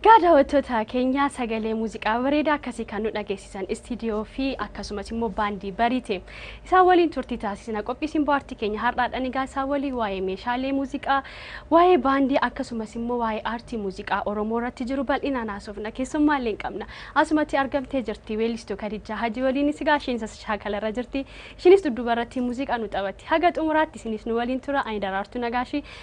Egaa daawwattoota keenya sagalee muuziqaa bareedaa akkasii kan nu dhageessisan istiidiyoo fi akkasumas immoo baandii bariite. Isaan waliin turtii taasisna. Qophii simboo aartii keenya har'aadhaan egaa isaan waliin waa'ee meeshaalee muuziqaa, waa'ee baandii akkasumas immoo waa'ee aartii muuziqaa Oromoo irratti jiru bal'inaan haasofna. Keessummaa illee qabna. Asumatti argamtee jirti weellistuu Kadijjaa Hajii waliinis egaa isheenis as shaakala irra jirti. Ishiinis dudduuba irratti muuziqaa nu taphatti. Haga xumuraatti isinis nu waliin tura. Ani Daraartuu Nagaashii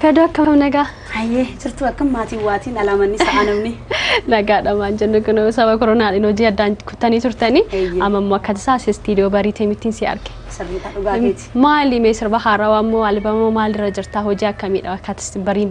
Kadoo akkam nagaa? Hayyee jirtu akkam maatiin waatiin alaamanni sa'a namni. Nagaadha maan jennu kun sababa koronaadhaan hojii addaan kuttanii turtanii Eeyyee. amma immoo akka tasaa si istiidiyoo bariitee mittiin si arge. Sirriidha dhugaa keeti. Maali mee sirba haarawaa immoo albamoo maalirra jirtaa hojii akkamiidha akka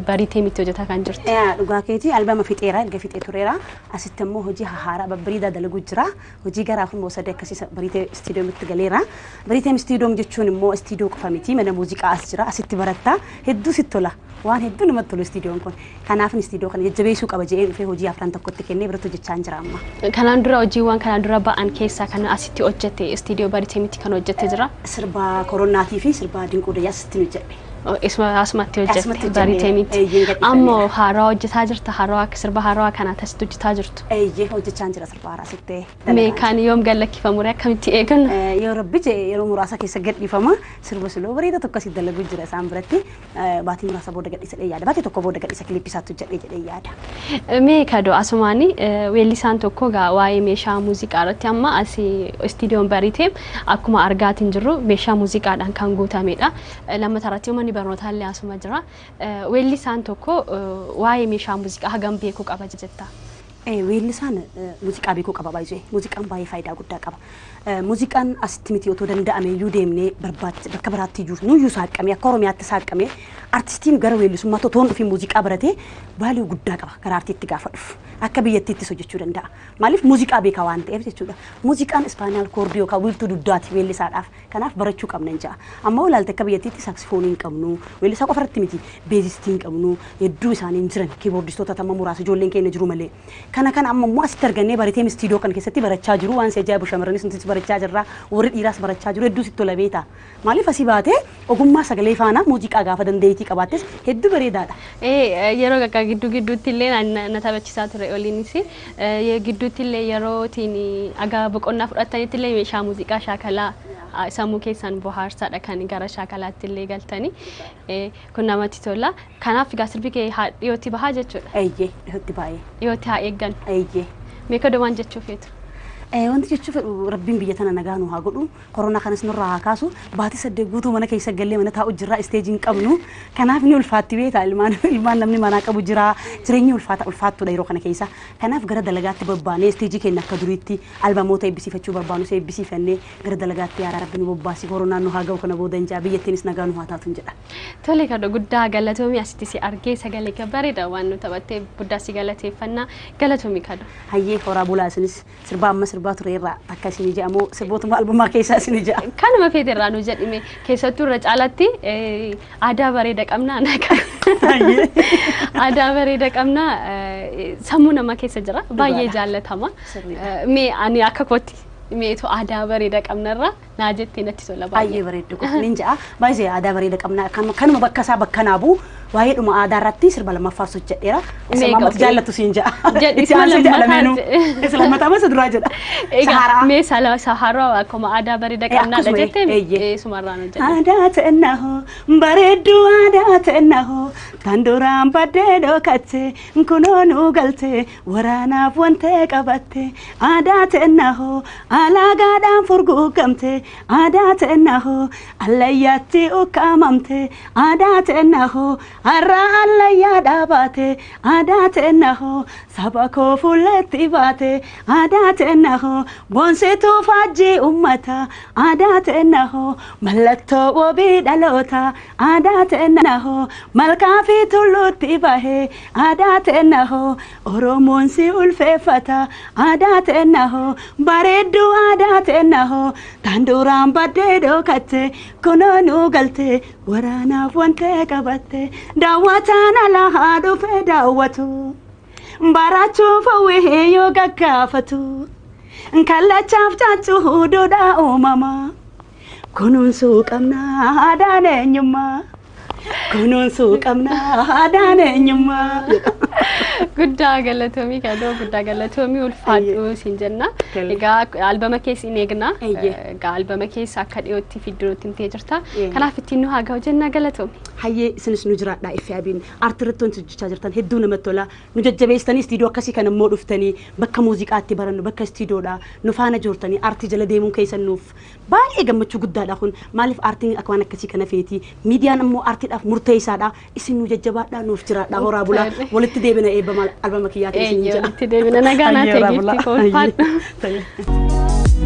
bariitee mitti hojjetaa kan jirtu. Yaa dhugaa keeti albama fixeera erga fixee tureera Asitti ammoo hojii hahaaraa babbareedaa dalaguu jira. Hojii garaa kun moosadee akkasii sa- bariitee istiidiyoomitti galeera. Bariiteen istiidiyoom jechuun immoo istiidiyoo qofa miti mana muuziqaa as jira asitti baratta hedduu sitti tola. Waan hedduu namatti tolu istiidiyoon kun. Kanaafin istiidiyoo kana jajjabeessuu qaba jedhee dhufee hojii afran tokkotti kennee biratti hojjechaa hin jira amma. Kanaan dura hojiiwwan kanaan dura ba'an keessaa kan asitti hojjette istiidiyoo Bariiteemitti kan hojjette jira. Sirba koronaatii fi sirba dinquu dayyaa asitti hojjedhe. Isuma asumatti hojjette Asumatti hojjenne. baritee miti. Eeyyeen gadhiifamee Ammoo jira. haaraa hojjetaa jirta haaraa akka sirba haaraa kana tasitti hojjetaa jirtu. Eeyyee hojjechaan jira sirba haaraa sittee Mee dalagaan. kaan yoom gallakkifamu ree akkamitti eeganna? Eh, yoo rabbi jee yeroo muraasa keessa gadhiifama sirba siloo bareeda tokko asii dalaguu jira isaan biratti Eh, baatii muraasa booda gadhiisa jedhee yaada baatii tokko booda gadhiisa kilippi isaatti hojjedhee jedhee yaada Mee kadoo asumaani eh, weellisaan tokko gaa waa'ee meeshaa muuziqaa irratti amma asii istiidiyoon baritee akkuma argaatiin jirru meeshaa muuziqaadhaan kan guutamedha. Lammataa irratti manni barnootaa illee asuma jira. Weellisaan tokko waa'ee meeshaa muuziqaa hagam beekuu qaba jetta? Weellisaan muuziqaa beekuu qaba baay'ee. Muuziqaan baay'ee faayidaa guddaa qaba. Muuziqaan asitti miti otoo danda'amee iyyuu deemnee barbaachisa bakka biraatti iyyuu nuyyuu saaqqamee akka Oromiyaatti saaqqamee artistiin gara weellisummaatti otoo hin dhufiin muuziqaa baratee vaaliyuu guddaa qaba gara artiitti gaafa dhufu. Akka biyyattiittis hojjechuu danda'a. Maaliif muuziqaa beekaa waan ta'eef jechuudha. Muuziqaan ispaanaal koordii yookaan wiirtuu dugdaati weellisaadhaaf. Kanaaf barachuu qabnan ja'a. Amma ilaalte akka biyyattiitti saaksifoonii hin qabnu. Weellisaa qofa irratti miti. Beezistii hin qabnu. Hedduu isaanii hin jiran. Kiiboordistoota tamma muraasa ijoolleen keenya jiru malee. Kana kana amma immoo asitti argannee bareteem istiidoo kan keessatti barachaa jiru. Waan si ajaa'ibu shamarranis nutis barachaa jirra. Warri dhiiraas barachaa jiru. Hedduu sitti tola beektaa. Maaliif asii baatee ogummaa sagalee faana muuziqaa gaafa dandeettii qabaattes hedduu bareedaadha. Ee yeroo gaggaa gidduu gidduutti illee na taphachisaa ture oliinis. Ye gidduuttillee yeroo itiin haga boqonnaa fudhattanittillee meeshaa muuziqaa shaakalaa sammuu keessan bohaarsaadha kan gara shaakalaattillee galtanii kun namatti tola. Kanaaf egaa sirbi kee haa dhiyootti bahaa jechuudha. Eeyyee dhihootti baay'ee. Dhiyootti haa eeggannu. Eeyyee. Mee kodo waan jechuu feetu? Wanti jechuu fedhu rabbiin biyya tana nagaa nuu haa godhu. Corona kanas nurraa haa kaasu. Baatii saddeet guutuu mana keessa gallee mana taa'u jirra isteejii hin qabnu. Kanaaf ni ulfaatti beektaa ilmaan ilmaan namni manaa qabu jira. Jireenyi ulfaata ulfaattuudha yeroo kana keessa. Kanaaf gara dalagaatti babbaanee isteejii keenya akka duriitti albamoota eebbisiifachuu barbaanus eebbisiifannee gara dalagaatti yaa rabbi nu bobbaasi koronaan nu haa ga'u kana booda hin jaa biyyattiinis nagaa nu haa taatun jedha. Tole kana guddaa galatoomii asitti si argee sagalee kee bareeda waan nu taphattee guddaa si galateeffannaa galatoomi kado. Hayyee horaa bulaa isinis. Sirbaa amma sirbaa ture irraa takka isinii ja'a moo sirbootuma albumaa keessaa isinii ja'a? Kanuma feete irraa nu jedhime. Keessattuu irra caalaatti eh, aadaa bareeda qabna. anaa Ayyee. kan- Aadaa bareeda qabna. eh, Sammuu namaa keessa jira. Baay'ee Dhugaadha. jaallatama. Sirriidha. Eh, Mee ani akka kootti meetu aadaa bareeda qabna irraa naa jettee natti tola Baay'ee baay'ee. bareeddu kun nin ja'a. Baay'ee aadaa bareeda qabna. Kan- Kanuma bakka isaa bakka naa bu'u waa'ee dhuma aadaa irratti sirba lammaffaan hojjedheera. Isa Meeqa maammatti ofii? jaallatu siin ja'a. Jedhi, Itti aansee isa ja'a lammataa lameenuu. jedhe. Isa lammataa masa duraa jedha. Egaa Sahaaraa. mee sala saharaa akkuma aadaa bareeda Eh, qabnaadha akkasuma, jettee eh, eeyyee. eh, sumarraan hojjedhe. Aadaa ta'ennaho bareedduu aadaa ta'ennaho kan duraan baddee dhokate kunoo nu galte Waraanaaf wantee qabatte aadaa teennahoo alaagaadhaan furguugamte aadaa teennahoo allayyaatti ukkaamamte aadaa teennahoo har'aa allayyaa dhaabaate aadaa teennahoo saba koo fuulleetti baate aadaa teennahoo boonsituu faajjii ummata aadaa teennahoo mallattoo wabii dhaloota aadaa teennahoo malkaa fi tulluutti bahe Aadaa teenna hoo Oromoon si ulfeeffata Aadaa teenna hoo bareedduu Aadaa teenna hoo tan duraan baddee dhookatte kunoo nuu galte waraanaaf wantee qabatte daawwataan alaa haa dhufee daawwatu baraachuuf hawwee yoo gaggaafatu kallachaaf caaccuu duudhaa uumamaa. Kunuunsuu qabna aadaan eenyummaa. Kunuunsuu qabna aadaan eenyummaa. Guddaa galatoomii kadoo guddaa galatoomii ulfaadhu siin jenna. Tole. Egaa albama kees in eegna. Eeyyee. Egaa albama keessa akka dhiyootti fiddu nutti himtee jirta. Eeyyee. Kanaaf ittiin nu haa ga'u jenna galatoomi. Hayyee isinis nu jiraadhaa iffi abiin aartii irratti wanti hojjechaa jirtan hedduu namatti tola. Nu jajjabeessitanii istiidiyoo akkasii kana immoo dhuftanii bakka muuziqaatti barannu bakka istiidiyoodha nu faana joortanii aartii jala deemuun keessan nuuf Baay'ee gammachuu guddaadha kun. Maaliif aartiin akka waan akkasii kana feeti. Miidiyaan ammoo aartiidhaaf murteessaadha. Isin nu jajjabaadhaa nuuf jiraadhaa horaa bulaa. Tole. Walitti deebina eebba maal albama kiyyaatiin isin Eeyyee jedha. walitti deebina nagaa naa Hayyee horaa ta'e bulaa. giiftii koo ulfaadhu. Hayyee. Tole.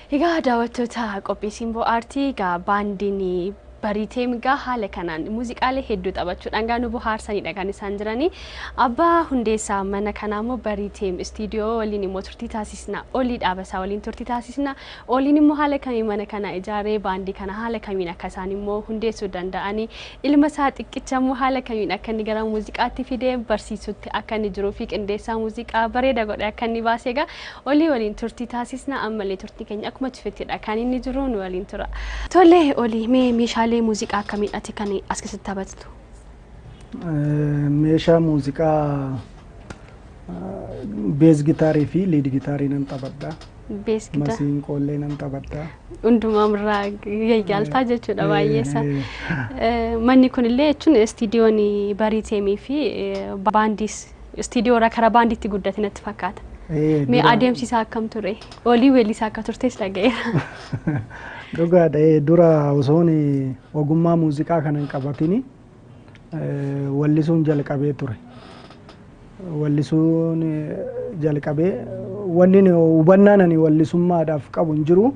Egaa daawwattoota qophii Simboo Aartii egaa baandiin Bariiteem egaa haala kanaan muuziqaalee hedduu taphachuudhaan egaa nu bohaarsanidha kan isaan jiranii. Abbaa hundeessaa mana kanaa immoo Bariiteem istiidiyoo waliin immoo turtii taasisna. Olii dhaabasaa waliin turtii taasisna. Oliin immoo haala kamiin mana kana ijaaree baandii kana haala kamiin akka isaan immoo hundeessuu danda'anii Ilma isaa xiqqicha immoo haala kamiin akka inni gara muuziqaatti fidee barsiisutti akka inni jiruu fi qindeessaa muuziqaa bareeda godhe akka inni baase egaa olii waliin turtii taasisna ammallee turtii keenya akkuma cufettidha kan inni jiru nu waliin tura. Tole olii mee meeshaalee muuziqaa akkamiidhati kan as keessatti taphattu? Eh, Meeshaa muuziqaa Bees gitaarii fi liid gitaarii nan taphadha. Bees gita. Masiinqoollee nan taphadha. Hundumaa irraa yayyaaltaa jechuudha baay'eessa. Manni kunillee jechuun istiidiyoon bariiteemii fi baandiis istiidiyoo irraa karaa baandiitti guddate natti fakkaata. Mee adeemsi isaa akkam ture? Olii weellisaa akka turtes dhaga'eera. Dhugaadha. Dura osoon ogummaa muuziqaa kana hin qabatin wallisuun jalqabee ture. Wallisuun jalqabee wanni hubannaan ani wallisummaadhaaf qabu hin jiru.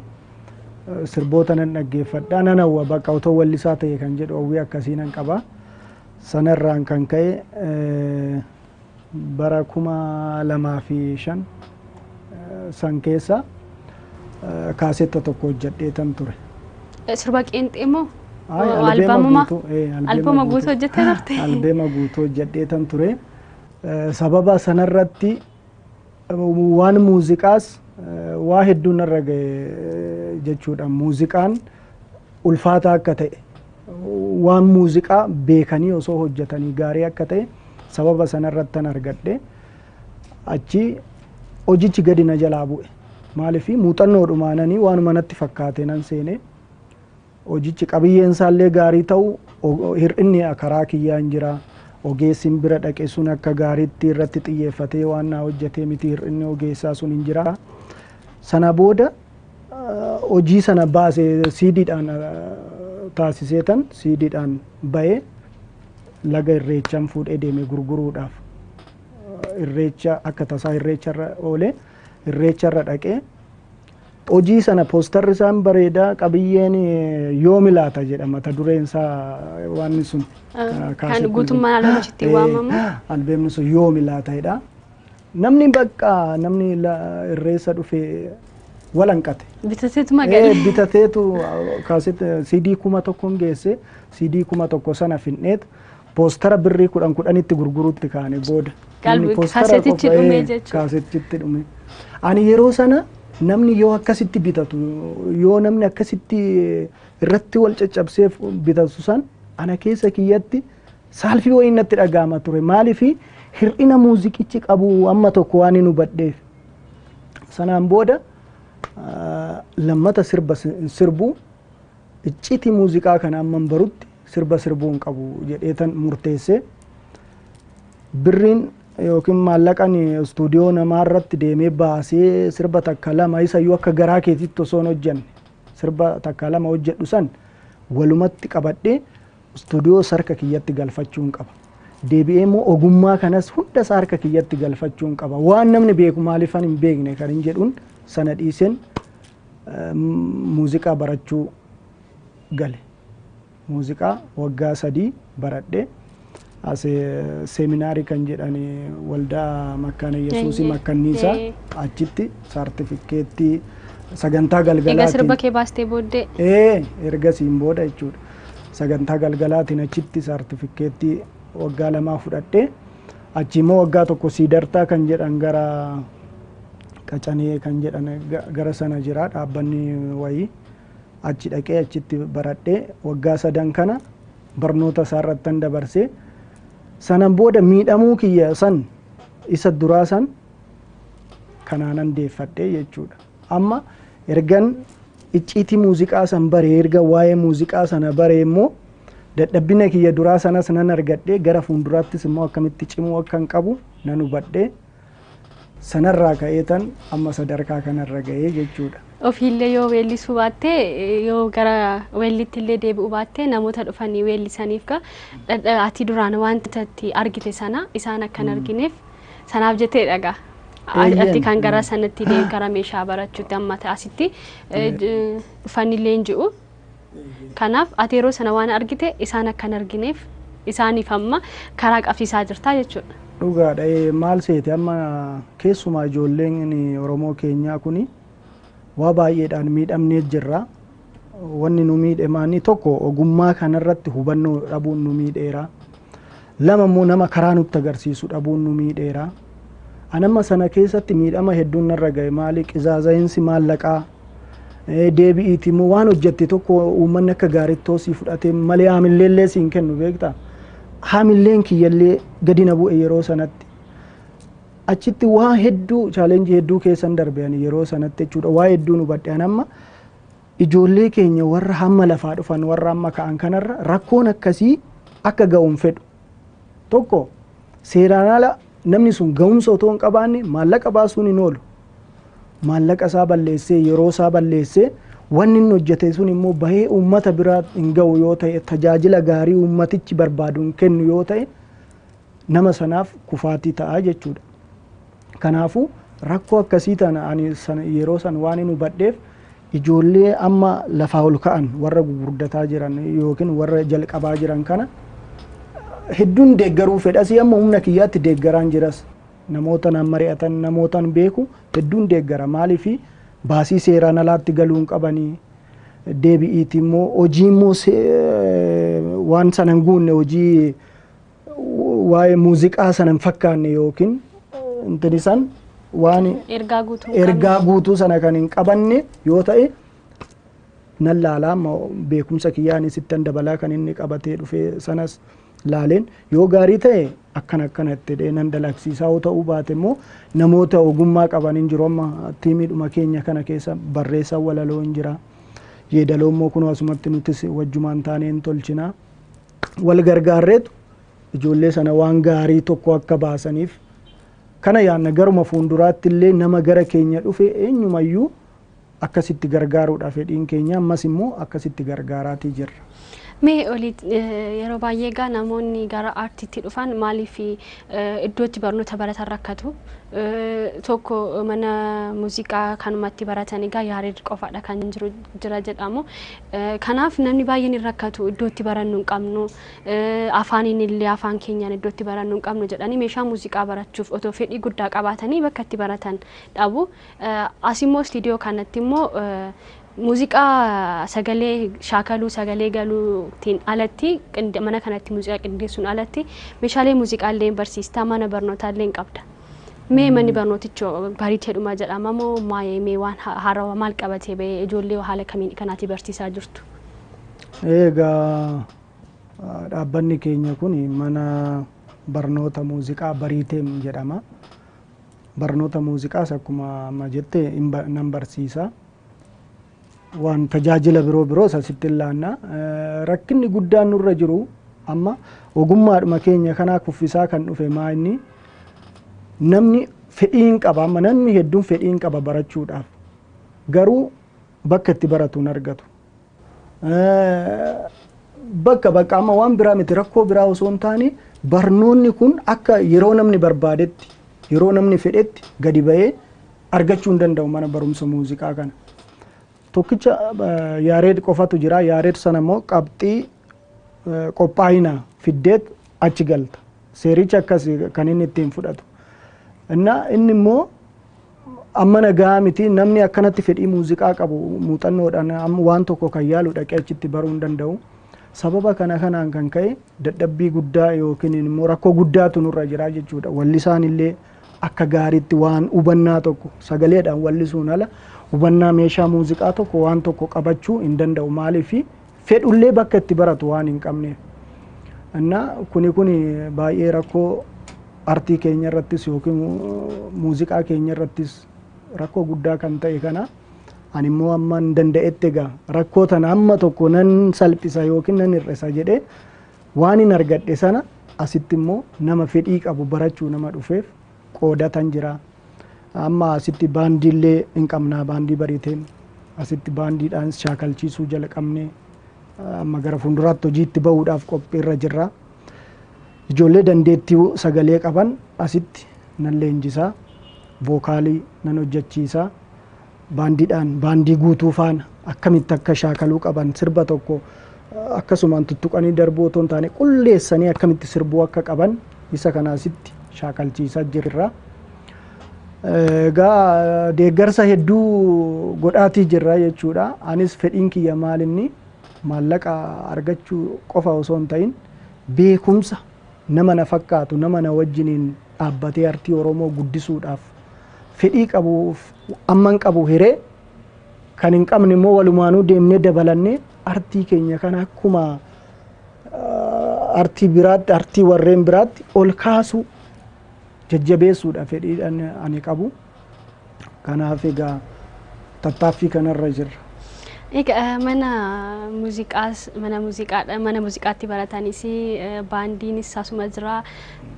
Sirboota nan dhaggeeffadha. Nan hawwa bakka otoo wallisaa ta'e kan jedhu hawwii akkasii nan qaba. Sanarraan kan ka'e bara 2005 san keessa kaasetta tokko hojjadheetan ture. Sirba qeenxee moo? Ay, Wa- albeema albamumaa? guutuu, eh, albeema Albamumaa guutuu hojjettee turte? Albeema guutuu hojjadheetan ture. Eh, Sababa sanarratti Waan muuziqaas waa hedduun narra ga'e jechuudha. Muuziqaan ulfaataa akka ta'e, waan muuziqaa beekanii osoo hojjetanii gaarii akka ta'e sababa sanarrattan argadhe. Achi hojichi gadi na jalaa bu'e. Maaliif muuxannoodhumaananii waanuma natti fakkaate nan seene. Hojichi qabiyyeen isaa illee gaarii ta'u hir'inni karaa kiyyaan jira. Ogeessin bira dhaqe sun akka gaariitti irratti xiyyeeffatee waan naa hojjetee miti hir'inni ogeessaa sun hin jira. Sana booda hojii sana baase siidiidhaan taasiseetan siidiidhaan ba'ee laga irreechaan fuudhee deeme gurguruudhaaf irreecha akka tasaa irreecharra oolee irreecharra dhaqee Hojii sana poostarri isaan bareeda qabiyyeen yoomi laata jedha mata dureen isaa waan sun Kan guutummaan alamichitti waamamu. albeemni sun yoomi laata jedha. Namni bakka namni la- irreessa dhufe walanqate. Bitateetu Eh, magaalaa. bitateetu kaaset CD kuma tokkoon geesse CD kuma tokko sana finneet Poostara birrii kudhan kudhanitti gurguruutti kaane booda. Namni poostara qophaa'ee kaasetichitti dhume. Ani yeroo sana namni yoo akkasitti bitatu yoo namni akkasitti irratti wal caccabsee bitatu san ana keessa kiyyatti saalfii wayii natti dhaga'ama ture. Maaliif hir'ina muuziqichi qabu amma tokko waan hin hubadheef. Sanaan booda lammata sirba sirbu Icciti muuziqaa kana amman barutti sirba sirbuu hin qabu jedheetan murteesse. Birriin yookiin maallaqan istuudiyoo namaa irratti deemee baasee sirba takka lama isayyuu akka garaa keetitti osoo hin hojjanne sirba takka lama hojjedhu san walumatti qabadhee istuudiyoo isa harka kiyyatti galfachuun qaba. Deebi'ee immoo ogummaa kanas hunda isaa harka kiyyatti galfachuun qaba. Waan namni beeku maaliifan hin beekne kanin jedhuun sana dhiiseen Muuziqaa barachuu gale. Muuziqaa waggaa sadii baradhe. As seeminaarii kan jedhan waldaa Makkaana Yesuusii Eeyyee. Makkanniisaa Ee. achitti saartifikkeettii sagantaa Egaa galgalaatiin sirba kee baastee booddee Ee, ergasiin booda jechuudha. Sagantaa galgalaatiin achitti saartifikkeettii waggaa lamaa fudhadhee achi immoo waggaa tokko siidartaa kan jedhan gara Qacanee kan jedhan gara sana jira dhaabbanni wayii. Achi dhaqee achitti baradhee waggaa sadan kana barnoota isaa irrattan dabarsee sanan booda miidhamuu kiyya san isa duraa san kanaanan deeffadhe jechuudha. Amma ergan icciitii muuziqaa san bare erga waa'ee muuziqaa sana bare immoo dadhabbina kiyya duraa sanas nan argadhe gara fuulduraattis immoo akkamitti cimuu akkan qabu nan hubadhe. Sanarraa ka'eetan amma sadarkaa kanarra ga'ee jechuudha. Ofiillee yoo weellisuu baattee yoo gara weelliitti illee deebi'uu baattee namoota dhufanii weellisaniif gaa dhadha- ati duraan wanta itti argite sana isaan akka hin argineef sanaaf jettee dhagaa. Eeyyeen. Ati kan gara sanatti deem gara meeshaa barachuutti amma asitti eh, j- dhufanii leenji'u. Kanaaf ati yeroo sana waan argite isaan akka hin argineef isaaniif amma karaa qabsiisaa jirtaa jechuudha. Dhugaadha maal seete amma keessumaa ijoolleen Oromoo keenyaa kun waa baay'eedhaan miidhamnee jirra. Wanni nu miidhe maanni tokko ogummaa kanarratti hubannoo dhabuun nu miidheera. Lama immoo nama karaa nutti agarsiisu dhabuun nu miidheera. An amma sana keessatti miidhama hedduun narra ga'e maali qizaaza'iinsi maallaqaa eh, deebi'iiti immoo waan hojjette tokko uummanni akka gaariitti hoosii fudhatee malee haamilleellee siin kennu beekta. Haamilleen kiyyallee gadi na bu'e yeroo sanatti. Achitti waa hedduu chaalenjii hedduu keessan darbe ani yeroo sanatti jechuudha. Waa hedduun hubadhe an amma Ijoollee keenya warra hamma lafaa dhufan warra amma ka'an kanarra rakkoon akkasii akka ga'u hin fedhu. Tokko seeraan ala namni sun ga'umsa otoo hin qabaanne maallaqa baasuun hin oolu. Maallaqa isaa balleessee yeroo isaa balleessee wanni inni hojjete sun immoo bahee uummata biraa hin ga'u yoo ta'e tajaajila gaarii uummatichi barbaadu hin kennu yoo ta'e nama sanaaf kufaatii ta'a jechuudha. Kanaafuu rakkoo akkasii tana ani sana yeroo san waan hin hubadheef ijoollee amma lafaa ol ka'an warra gugurdataa jiran yookiin warra jalqabaa jiran kana hedduun deeggaruu fedhasii amma humna kiyyaatti deeggaraan jiras namoota naan mari'atan namootaan beeku hedduun deeggara maaliifi baasii seeraan alaatti galuu hin qabanii deebi'iiti immoo hojii immoo waan sana hin guunne hojii waa'ee muuziqaa sana hin fakkaanne yookiin intini san waan Ergaa guutuu hin ergaa qabne. guutuu sana kan hin qabanne yoo ta'e nan laalaa amma beekumsa kiyyaan sittan dabalaa kan inni qabatee dhufe sanas laaleen yoo gaarii ta'e akkan akkana itti dhee nan dalagsiisaa yoo ta'uu baate immoo namoota ogummaa qaban hin jiru amma tiimiidhuma keenya kana keessa barreessaa walaloo hin jira yeedaloo immoo kunoo asumatti nutis wajjumaan taanee hin tolchinaa wal gargaarreetu ijoollee sana waan gaarii tokko akka baasaniif kana yaanna garuma fuulduraatti illee nama gara keenya dhufe eenyumayyuu akkasitti gargaaruudha fedhiin keenya ammas immoo akkasitti gargaaraatii jirra. Mee olii yeroo baay'ee egaa namoonni gara aartiitti dhufan maaliif iddootti barnoota baratan rakkatu tokko mana muuziqaa kanumatti baratan egaa yaareed qofaadha kan jiru jira jedhamu Kanaaf namni baay'een hin rakkatu iddoo itti barannu hin qabnu afaaniin illee afaan keenyaan iddoo itti barannu hin qabnu jedhanii meeshaa muuziqaa barachuuf otoo fedhii guddaa qabaatanii bakka itti baratan dhabu. As immoo istiidiyoo kanatti immoo muuziqaa sagalee shaakaluu sagalee galuutiin alatti mana kanatti muuziqaa qindeessuun alatti meeshaalee muuziqaa illee barsiistaa mana barnootaa illee qabda. Mee manni barnooticho bariiteedhuma jedhama moo maayee mee waan ha- haarawa maal qabatee ba'ee ijoollee haala kamiin kanaatii barsiisaa jirtu? Egaa ah, dhaabbanni keenya kun mana barnoota muuziqaa Bariiteem jedhama. Barnoota muuziqaas akkuma amma jette hin ba- nan barsiisa. waan tajaajila biroo biroos asitti hin laanna. Rakkinni guddaan nurra jiru amma ogummaadhuma keenya kanaa kuffisaa kan dhufe maa inni namni fedhii hin qaba amma namni hedduun fedhii hin qaba barachuudhaaf garuu bakka itti baratu hin argatu. Bakka bakka amma waan biraa miti rakkoo biraa osoo hin taane barnoonni kun akka yeroo namni barbaadetti yeroo namni fedhetti gadi ba'ee argachuu hin danda'u mana barumsa muuziqaa kana. Tokkicha eh, yaareed qofatu jira. Yaareed sana immoo qabxii eh, qophaa'ina fiddeet achi galta. Seerichi akkas kan inni ittiin fudhatu. Innaa inni immoo amma nagaa miti namni akkanatti fedhii muuziqaa qabu muuxannoodhaan amma waan tokko kan yaalu dhaqee achitti baruu hin danda'u. Sababa kana kanaan kan ka'e dadhabbii guddaa yookiin immoo rakkoo guddaatu nurra jira jechuudha. Wallisaan illee Akka gaariitti waan hubannaa tokko sagaleedhaan wal'isuun ala hubannaa meeshaa muuziqaa tokko waan tokko qabachuu hin danda'u maaliif fedhullee bakka itti baratu waan hin qabneef. Innaa kuni kuni baay'ee rakkoo artii keenya irrattis yookiin muuziqaa keenya irrattis rakkoo guddaa kan ta'e kana ani immoo amma hin danda'etti egaa rakkoo tana amma tokko nan salphisa yookiin nan hir'isa jedhee Waanin argadhe sana asitti immoo nama fedhii qabu barachuu nama dhufeef qoodatan jira. Amma asitti baandiillee hin qabnaa baandii bariiteen asitti baandiidhaan shaakalchiisuu jalqabne amma gara fuulduraatti hojiitti ba'uudhaaf qophiirra jirra. Ijoollee dandeettii sagalee qaban asitti nan leenjisaa, vookaalii nan hojjechiisaa. baandiidhaan baandii guutuu faana akkamitti akka shaakaluu qaban sirba tokko akkasumaan tuttuqanii darbuu otoo hin taane qulleessanii akkamitti sirbuu akka qaban isa kanaasitti shaakalchiisaa jirra. Egaa deeggarsa hedduu godhaatii jirra jechuudha. Anis fedhiin kiyya maal inni maallaqa argachuu qofa osoo hin ta'in beekumsa nama na fakkaatu nama na wajjiniin dhaabbatee artii Oromoo guddisuudhaaf fedhii qabuuf amman qabu hiree kan hin qabne immoo walumaanuu deemnee dabalannee artii keenya kana akkuma artii biraatti artii warreen biraatti ol kaasuu jajjabeessuudha fedhiidhaan ani qabu. Kanaaf egaa tattaaffii kanarra jirra. Egaa mana muuziqaas mana muuziqaadha mana muuziqaatti baratanis baandiinis asuma jira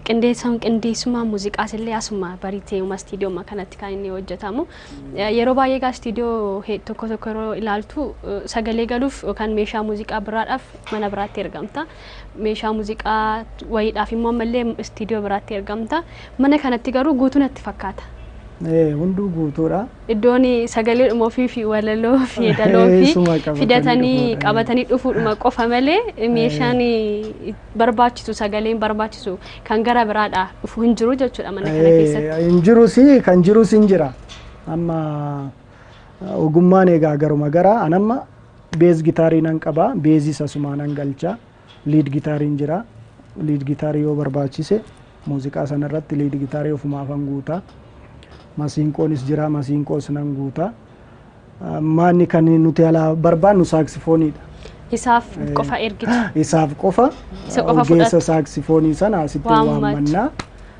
qindeessuun qindeessummaan muuziqaas illee asuma bariteeuma istiidiyooma kanatti kan inni hojjetamu. Yeroo baay'ee egaa istiidiyoo tokko tokko yeroo ilaaltu sagalee galuuf yookaan meeshaa muuziqaa biraadhaaf mana biraatti ergamta. meeshaa muuziqaa wayiidhaaf immoo ammallee istiidiyoo biraatti ergamta. Mana kanatti garuu guutuu natti fakkaata. Ee, Hunduu guutuudha. Iddoon sagalee dhuma ofii fi walaloo fi yeedaloo fi Isuma qabatanii fidatanii dhufuudha. qabatanii dhufuudhuma qofa malee meeshaan barbaachisu sagaleen barbaachisu kan gara biraadha dhufu hin jiru jechuudha mana kana Ee, keessatti. Hin jirus kan jirus hin jira. Amma ogummaan egaa garuma gara anamma Beez gitaarii nan qaba. Beezis asumaa nan galcha. Liid gitaariin jira. Liid gitaarii yoo barbaachise muuziqaa sana irratti liid gitaarii ofumaafan guuta. Masiinqoonis jira. Masiinqoos nan guuta. Ah, Maanni kan nuti alaa barbaannu saaksifooniidha. Isaaf Eh, qofa ergitu. Isaaf qofa Isa qofa ogeessa fudhattu. saaksifoonii sana asitti Waammattu. waammanna.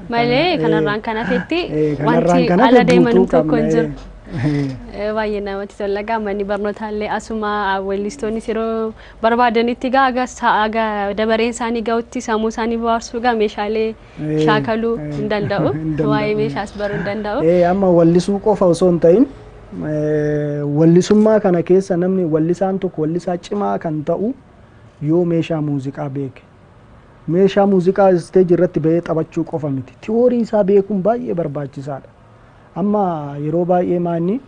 Malee Kana- kanarraan eh, kan hafetti eh, kanarraan wanti kan hafe ala deeman guutuu tokko hin qabna, jiru. eh. Eh, Baay'ee namatti tola gaa manni barnootaallee asuma weellistoonnis yeroo barbaadanitti gaa aga sa- aga dabareen isaanii ga'utti sammuu isaanii bohaarsuu gaa meeshaalee Eh, shaakaluu eh, hin danda'u. hin danda'u. Waa'ee meeshaas baruu hin danda'u. Eh, amma wallisuu qofa osoo hin ta'in eh, wallisummaa kana keessa namni wallisaan tokko wallisaa cimaa kan ta'u yoo meeshaa muuziqaa beeke Meeshaa muuziqaa isteejii irratti ba'ee taphachuu qofa miti. Tiwoorii isaa beekuun baay'ee barbaachisaadha. Amma yeroo baay'ee maanni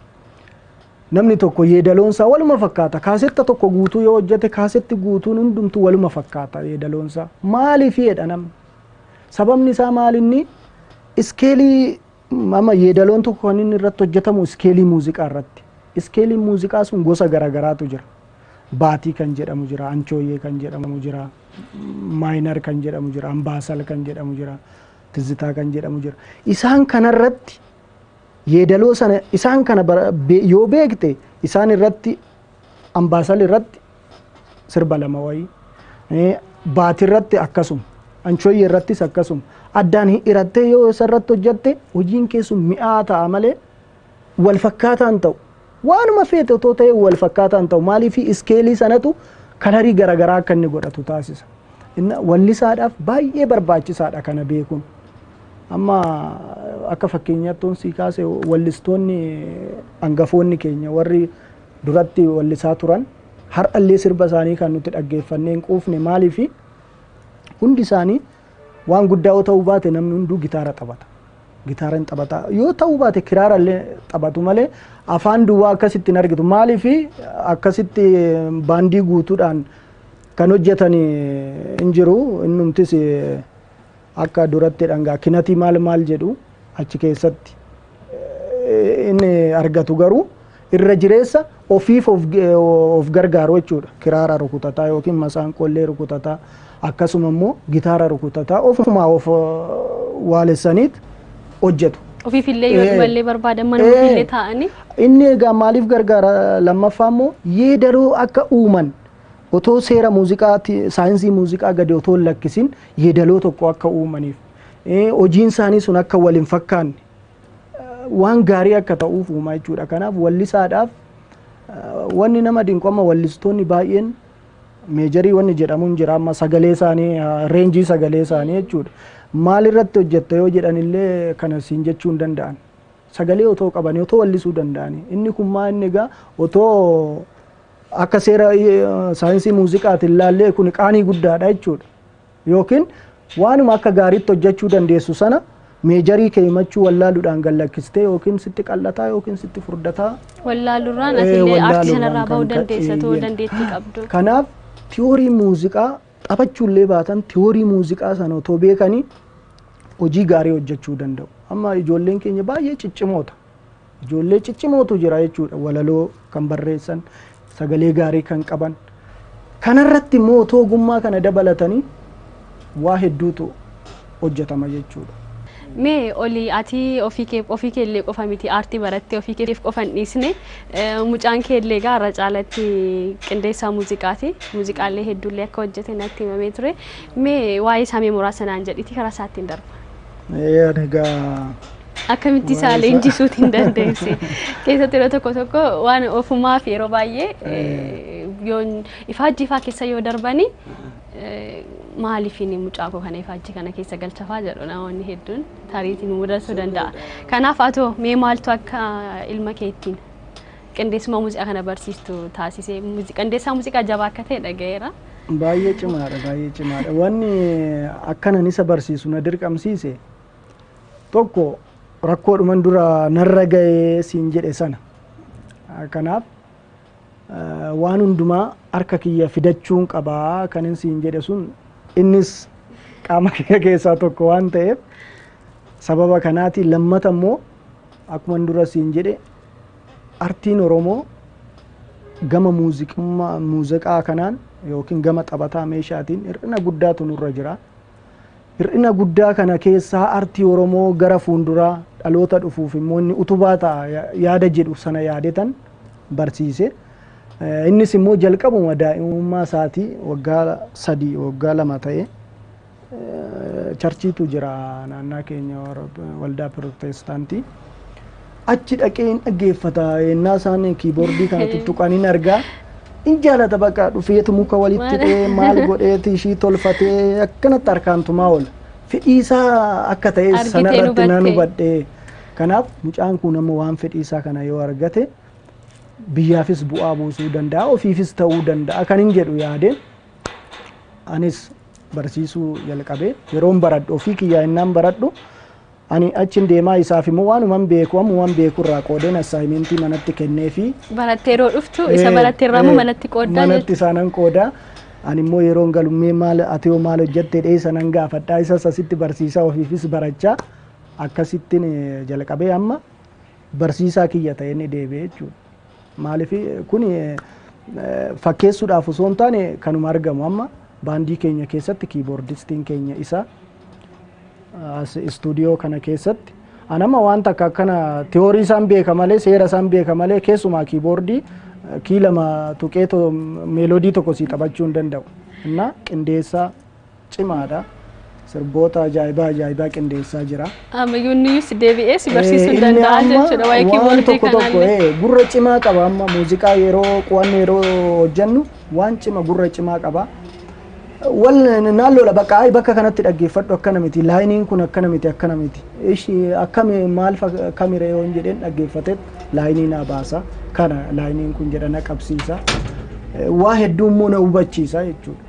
namni tokko yeedaloon isaa waluma fakkaata. Kaasetta tokko guutuu yoo hojjete kaasetti guutuun hundumtuu waluma fakkaata yeedaloon isaa. Maaliif jedha namni? Sababni isaa maalinni iskeelii Amma yeedaloon tokko kan inni irratti hojjetamu iskeelii muuziqaa irratti. Iskeeliin muuziqaa sun gosa garaagaraatu jira. Baatii kan jedhamu jira, anchooyee kan jedhamu jira, maayinar kan jedhamu jira, ambaasal kan jedhamu jira, tizzitaa kan jedhamu jira. Isaan kanarratti yeedaloo sana isaan kana bara- be- yoo beekte isaan irratti ambaasal irratti sirba lama wayii Eh, baati irratti akkasuma anchoyye irrattis akkasuma addaan hin hirattee yoo isa irratti hojjatte hojiin kee sun mi'aa ta'a malee wal fakkaataa hin ta'u waanuma feete otoo ta'e wal fakkaataa hin ta'u maaliif iskeelii sanatu kalarii garaagaraa akka inni godhatu taasisa Inna wallisaadhaaf baay'ee barbaachisaadha kana beekuun amma akka fakkeenyaatti sii kaase wallistoonni hangafoonni keenya warri duratti wallisaa turan har'allee sirba isaanii kan nuti dhaggeeffannee hin quufne maaliifi hundi isaanii waan guddaa yoo ta'uu baate namni hunduu gitaara taphata. Gitaara hin taphata. Yoo ta'uu baate kiraara illee taphatu malee afaan duwwaa akkasitti hin argitu. Maaliif akkasitti baandii guutuudhaan kan hojjetan hin jiru. Innumtis Akka duratti dhangaa kinatii maal maal jedhu achi keessatti inni argatu garuu irra jireessa ofiif of, of gargaaru jechuudha. Kiraara rukutataa yookiin masaanqollee rukutataa akkasuma immoo gitaara rukutataa ofumaa of waalessaniit hojjetu. Ofiifillee yoo dhiballee barbaadan mana ofiillee taa'anii. Inni egaa maaliif gargaara lammaffaa immoo yeedaloo akka uuman Otoo seera muuziqaa ti, saayinsii muuziqaa gadi otoo hin lakkisin yeedaloo tokko akka uumaniif, eh, hojiin isaanii sun akka wal hin fakkaanne, eh, waan gaarii akka ta'uuf uumaa jechuudha. Kanaaf wallisaadhaaf eh, wanni nama dinqu amma wallistoonni baay'een meejarii wanni jedhamu hin jira amma sagalee isaanii eh, reenjii sagalee isaanii jechuudha. Maal irratti hojjetta yoo jedhan illee kana siin jechuu hin danda'an. Sagalee otoo qabanii otoo wallisuu danda'anii inni kun maa inni egaa otoo Akka seera saayinsii muuziqaatiin laallee kun qaanii guddaadha jechuudha. Yookiin waanuma akka gaariitti hojjechuu dandeessu sana meejarii kee himachuu wallaaluudhaan gallakkistee yookiin sitti qal'ataa yookiin sitti furdataa. Wallaalurraan atillee aartii sanarraa bahuu dandeessa ta'uu dandeettii qabdu. Kanaaf tiyoorii muuziqaa taphachuullee baatan tiyoorii muuziqaa sana otoo beekanii hojii gaarii hojjechuu danda'u. Amma ijoolleen keenya baay'ee ciccimoota. Ijoollee ciccimootu jira jechuudha. Walaloo kan barreessan, sagalee gaarii kan qaban. Kanarratti immoo otoo ogummaa kana dabalatanii waa hedduutu hojjetama jechuudha. Mee oli ati ofii kee ofii kee illee qofa miti aartii barattee ofii keef qofa hin dhiisne Eh, mucaan kee illee egaa irra caalatti qindeessaa muuziqaati muuziqaalee hedduullee akka hojjete natti himamee ture mee waa'ee isaa mee muraasa naan jedhiti karaa isaattiin darba. Ee, ani egaa akkamitti isaa Waa'ee isaa. leenjisuut hin dandeessi. Keessatti yeroo tokko tokko waan ofumaa fi yeroo baay'ee eh, yoo ifaajjii faa keessa yoo darbani eh, maaliif inni mucaa koo kana ifaajjii kana keessa galchafaa jedhu namoonni hedduun tariitiin mudachuu danda'a. Kanaaf atoo mee maaltu akka ilma keettiin qindeessummaa muuziqaa kana barsiistu taasisee muuzi- qindeessaa muuziqaa jabaa akka ta'e dhaga'eera. Baay'ee cimaadha baay'ee cimaadha. Wanni akkanan isa barsiisu na dirqamsiise Tokko rakkoodhuman dura narra ga'ee siin jedhe sana. Kanaaf waan hundumaa harka kiyya fidachuun qabaa kanin siin jedhe sun innis qaama kiyya keessaa tokko waan ta'eef sababa kanaati lammata immoo akkuma dura siin jedhe artiin Oromoo gama muuziqaa kanaan yookiin gama taphataa meeshaatiin hir'ina guddaatu nurra jira. Hir'ina guddaa kana keessaa artii Oromoo gara fuunduraa dhaloota dhufuuf immoo inni utubaa ta'a yaada jedhu sana yaadetan barsiise. Innis immoo jalqabuma daa'imummaa isaatii waggaa sadii waggaa lama ta'e charchiitu jira naannaa keenya waldaa pirootestaantii. Achi dhaqee hin dhaggeeffata yennaa isaan kiiboordii kana tuttuqan hin argaa. In jaalata baqa dhufeetu muka walitti Waan- hidhee maal godheeti ishii tolfatee akkanatti harkaan tumaa oola. Fedhii isaa akka ta'es Argitee sanarratti nan hubatte. hubadhe. Kanaaf mucaan kun amma waan fedhii isaa kana yoo argate biyyaafis bu'aa buusuu danda'a ofiifis ta'uu danda'a kan hin jedhu yaadeen anis barsiisuu jalqabe yeroon baradhu ofii kiyyaa innaan baradhu Ani achin deemaa isaaf immoo waanuman beeku ammuman beeku irraa qoodeen assaayimentii manatti kenneefii. Barattee yeroo dhuftu isa baratte irraa immoo manatti qooddaa jechuudha. Manatti isaanan qoodaa. Ani immoo yeroon galu mee maal ati hoo maal hojjatte dhee sanan gaafadhaa isas asitti barsiisaa ofiifis barachaa akkasittiin jalqabee amma barsiisaa kiyya ta'ee inni deebi'e jechuudha. Maaliif kun fakkeessuudhaaf osoo hin taane kanuma argamu amma baandii keenya keessatti kiiboordistiin keenya isa as istuudiyoo kana keessatti an amma wanta akka akkana tiyoorii isaan beeka malee seera isaan beeka malee keessumaa kiiboordii kii lama tuqee meelodii tokko sii taphachuu hin danda'u. Innaa qindeessaa cimaadha. Sirboota ajaa'ibaa ajaa'ibaa qindeessaa jira. Ammayyuu inni iyyuu si deebi'ee si barsiisuu Eh, inni danda'a amma jechuudha waa'ee waan kiiboordii tokko tokko kanaallee. eh, gurra cimaa qaba amma muuziqaa yeroo qo'annu yeroo hojjennu waan cima gurra cimaa qaba. Wal naan lola bakka ayi bakka kanatti dhaggeeffadhu akkana miti laayiniin kun akkana miti akkana miti ishi akkami maal fak- akkamire yoon jedheen dhaggeeffateet laayinii naa baasa kana laayiniin kun jedha na qabsiisa. Eh, Waa hedduu immoo na hubachiisa jechuudha.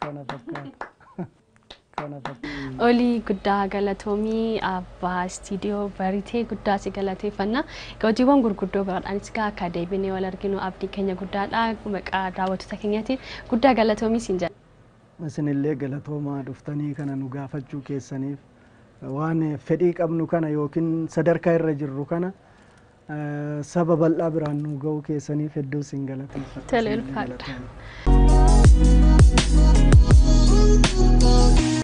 Kana fakkaata. Kana fakkaata. Olii guddaa galatoomii abbaa istiidiyoo baritee guddaa si galateeffanna. Egaa hojiiwwan gurguddoo biraadhaanis egaa akka deebinee wal arginu abdii keenya guddaadha. Maqaa daawwattoota keenyaatiin guddaa galatoomii siin jedha. Isinillee galatoomaa dhuftanii kana nu gaafachuu keessaniif. Waan fedhii qabnu kana yookiin sadarkaa irra jirru kana saba bal'aa biraan nu ga'uu keessaniif hedduu isin galateeffadha. Tole Isinillee ulfaadha. galatoomaa.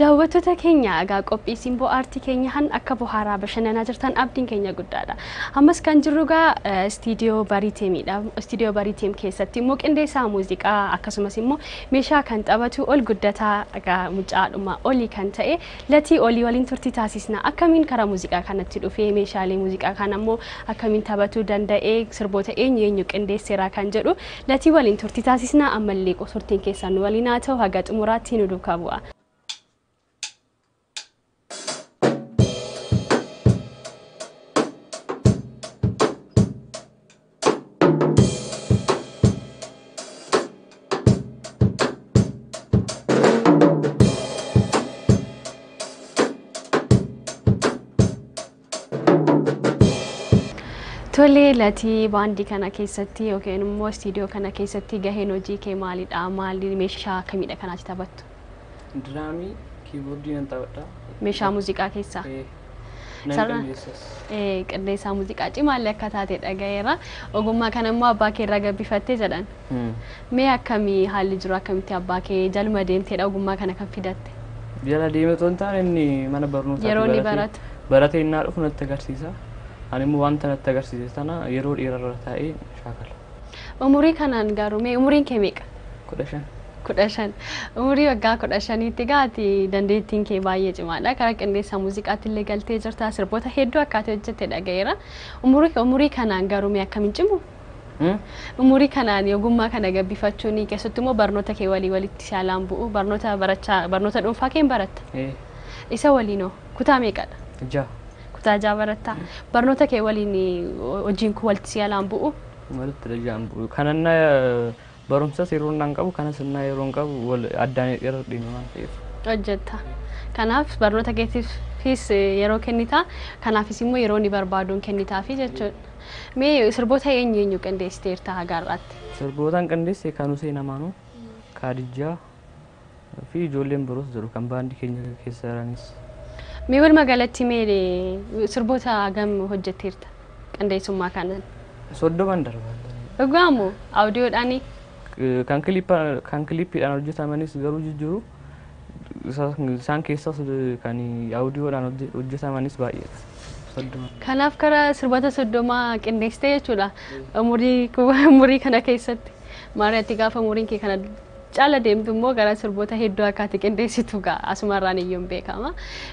Daawwattoota keenya egaa qophii simboo aartii keenya han akka bohaaraa bashannanaa jirtan abdiin keenya guddaadha. Ammas kan jirru egaa istiidiyoo Bariiteemidha. Istiidiyoo Bariiteem keessatti immoo qindeessaa muuziqaa akkasumas immoo meeshaa kan taphatu ol guddataa egaa mucaadhuma olii kan ta'e Latii olii waliin turtii taasisna. Akkamiin karaa muuziqaa kanatti dhufee, meeshaalee muuziqaa kana immoo akkamiin tabatuu danda'ee, sirboota eenyu eenyu qindeesseeraa kan jedhu Latii waliin turtii taasisna. Ammallee qo- turtiin keessan nu waliin haa ta'u haga xumuraatti nu duukaa bu'aa. Tolee latii baandii kana keessatti yookiin immoo istiidiyoo kana keessatti gaheen hojii kee maalidha? Maali meeshaa kamidha kan ati taphattu? Diraamii kiiboordii nan taphadha. Meeshaa muuziqaa keessaa. Eh, Nan Sarara. qindeessas. Eh, Qindeessaa muuziqaa cimaallee akka taate dhagayeera. Ogummaa kana immoo abbaa kee irraa gabbifattee jedhan. Hmm. Mee akkamii haalli jiru akkamitti abbaa kee jalma deemteedha ogummaa kana kan fidatte? Jala deemee otoo hin taane inni mana barnootaa Yeroo inni baratu. baratee innaa dhufu natti agarsiisa. Ani immoo wanta natti agarsiise sana yeroo dheerarra taa'ee shaakala. Umurii kanaan garuu mee umuriin kee meeqa? kudha shan. kudha shan. Umurii waggaa kudha shaniitti egaa ati dandeettiin kee baay'ee cimaadha. Karaa qindeessaa muuziqaatti illee galtee jirta. Sirboota hedduu akka ati hojjette dhaga'eera. Umurii umurii kanaan garuu mee akkam hin cimu? Hmm? Umurii kanaan ogummaa kana gabbifachuun keessatti immoo barnoota kee walii walitti saalaan bu'u. Barnoota barachaa barnoota dhuunfaa kee hin baratta. Eh, Isa waliinoo Kutaa meeqadha? Jaha. Kutaa jaha baratta. Barnoota kee waliin hojiin kun walitti si alaan bu'u? Walitti dhajaan bu'u. Kanan na barumsas yeroo naan qabu kanas innaa yeroo hin qabu wal addaan irra dhimma waan ta'eef. Hojjetta. Kanaaf barnoota keetiifis yeroo kennita. Kanaafis immoo yeroo ni barbaaduun kennitaafi jechuudha. Mee sirboota eenyu eenyu qindeessiteerta haga har'aatti? Sirbootaan qindeesse kan Huseen Amaanuu, Kaadijjaa, fi ijoolleen biroos jiru kan baandii keenya keessa jiranis. Mee walumaa galatti mee sirboota hagam hojjetteerta qindeessummaa kanaan? Soddoman darba. Dhugaa moo audiodhaanii? Kan kilippa- kan kilippiidhaan hojjetamanis garuu jijjiiru. Isa- Isaan keessas kan audiodhaan hojje- hojjetamanis baay'eedha. Soddoman. Kanaaf kara sirboota soddomaa qindeessite jechuudha umurii ku- umurii kana keessatti. Maariyaatti gaafa umuriin kee kana Chala deemtu immoo gara sirboota hedduu akka ati qindeessitu gaa asumarraan iyyuun beekama.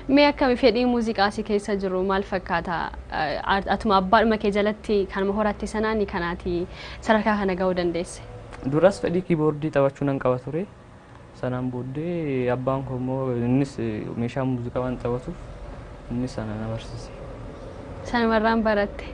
Mee akkami fedhii muuziqaa si keessa jiru maal fakkaata? Eh, ar- Atuma abbaadhuma kee jalatti kanuma horatte sanaani kan ati sadarkaa kana ga'uu dandeesse. Duras fedhii kiiboordii taphachuu nan qaba ture. Sanaan booddee abbaan koo immoo innis eh, meeshaa muuziqaa waan taphatuuf Inni sana na barsiise. Sanumarraan baratte.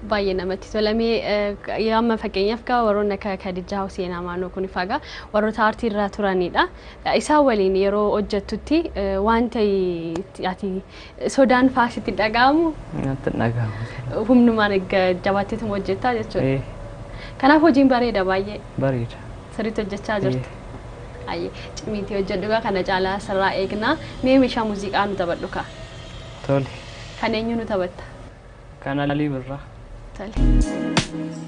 Baay'ee namatti tola. Mee eh, amma fakkeenyaaf gaa warroonni akka Kadijaa Huseen Amaanoo kun faa gaa warroota aartii irraa turanidha. Eh, Isaan waliin yeroo hojjettutti eh, wanta itti- ati sodaan faa sitti hin dhaga'amu Natti hin dhaga'amu. humnumaan egaa jabaatteetuma hojjettaa jechuudha. Eh, Kanaaf hojiin bareeda baay'ee. Bareeda. Sirriitti hojjechaa jirta. Ayyee cimiitii hojjedhu gaa kana caalaa sirraa eegna. Mee meeshaa muuziqaa nu taphadhu kaa. Tole. Kan eenyuu nu taphatta? Kan Alii Birraa. Tole.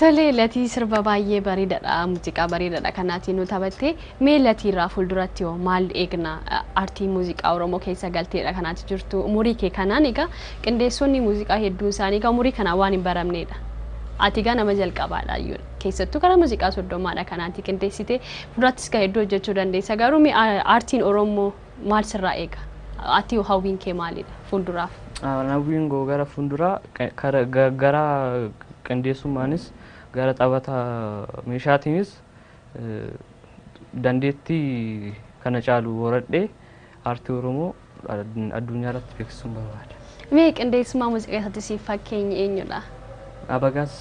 Tolee latii sirba baay'ee bareedadha muuziqaa bareedadha kanaatiin nu taphattee mee latii irraa fuulduratti hoo maal eegna aartii muuziqaa oromoo keessa galteedha kanaati jirtu umurii kee kanaan egaa qindeessonni muuziqaa hedduun isaanii egaa umurii kanaa waan hin baramneedha ati egaa nama jalqabaadha iyyuu keessattuu karaa muuziqaa soddomaadha kan ati qindeessite fuuldurattis kan hedduu hojjechuu dandeessa garuu mee a- aartiin oromoo maal sirraa eega ati hoo hawwiin kee maalidha fuulduraaf Hawwiin koo gara fuulduraa qe- kara- ga- gara qindeessummaanis gara taphata meeshaatiinis eh, dandeettii kana caalu horadhee Aartii Oromoo addunyaa irratti beeksisuun barbaada. Mee qindeessummaa muuziqaa isaatti siif fakkeenyi eenyudha? Abagaaz.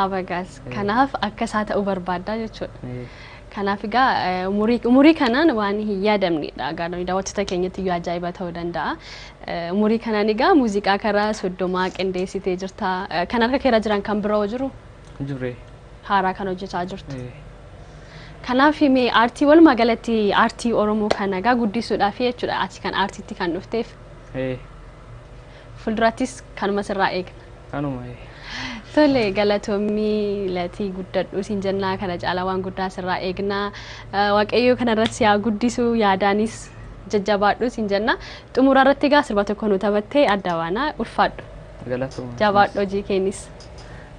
Abagaaz. Kanaaf akka isaa ta'uu barbaaddaa jechuudha. Ee, Kanaaf egaa eh, umurii umurii kanaan waan hin yaadamnedha. Egaa nuyi daawwattoota keenyatti iyyuu ajaa'iba ta'uu danda'a. Eh, Umurii kanaan egaa muuziqaa karaa soddomaa qindeessitee jirta. Eh, Kan harka keerra jiran kan biroo jiru hin jirre. haaraa kan hojjetaa jirtu. Ee, Kanaaf mee aartii walumaa galatti aartii Oromoo kana egaa guddisuudhaafi jechuudha ati kan aartiitti kan dhufteef. Ee. Fuuldurattis kanuma sirraa eegna. Kanuma ee. Tole galatommii latii guddadhuu siin jennaa kana caalaa waan guddaa sirraa eegnaa waaqayyoo kanarratti siyaa guddisuu yaadaanis jajjabaadhuu siin jennaa xumuraa irratti egaa sirba tokko nu taphattee adda baanaa ulfaadhu. Galatooma. Jabaadhu hojii keenis.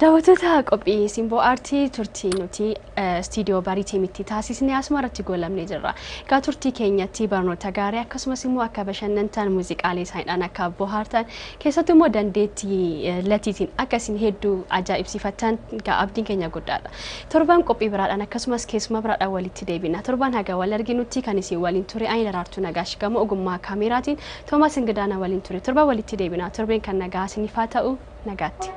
Daawwattoota qophii simboo aartii turtii nuti istiidiyoo bariitii mitti taasisne asuma irratti goolabnee jirra. Egaa turtii keenyatti barnoota gaarii akkasumas immoo akka bashannantan muuziqaalee isaaniidhaan akka bohaartan Keessattuu immoo dandeettii Latiitiin akka isin hedduu ajaa'ibsiifattan egaa abdiin keenya guddaadha. Torban qophii biraadhaan akkasumas keessummaa biraadhaan walitti deebina. Torban haga wal arginutti kan isin waliin ture ani Daraartuu Nagaash gama ogummaa kaameeraatiin Toomaas Ingidaa na waliin ture. Torban walitti deebina. Torbeen kan nagaa isiniif haa ta'u. Nagaatti.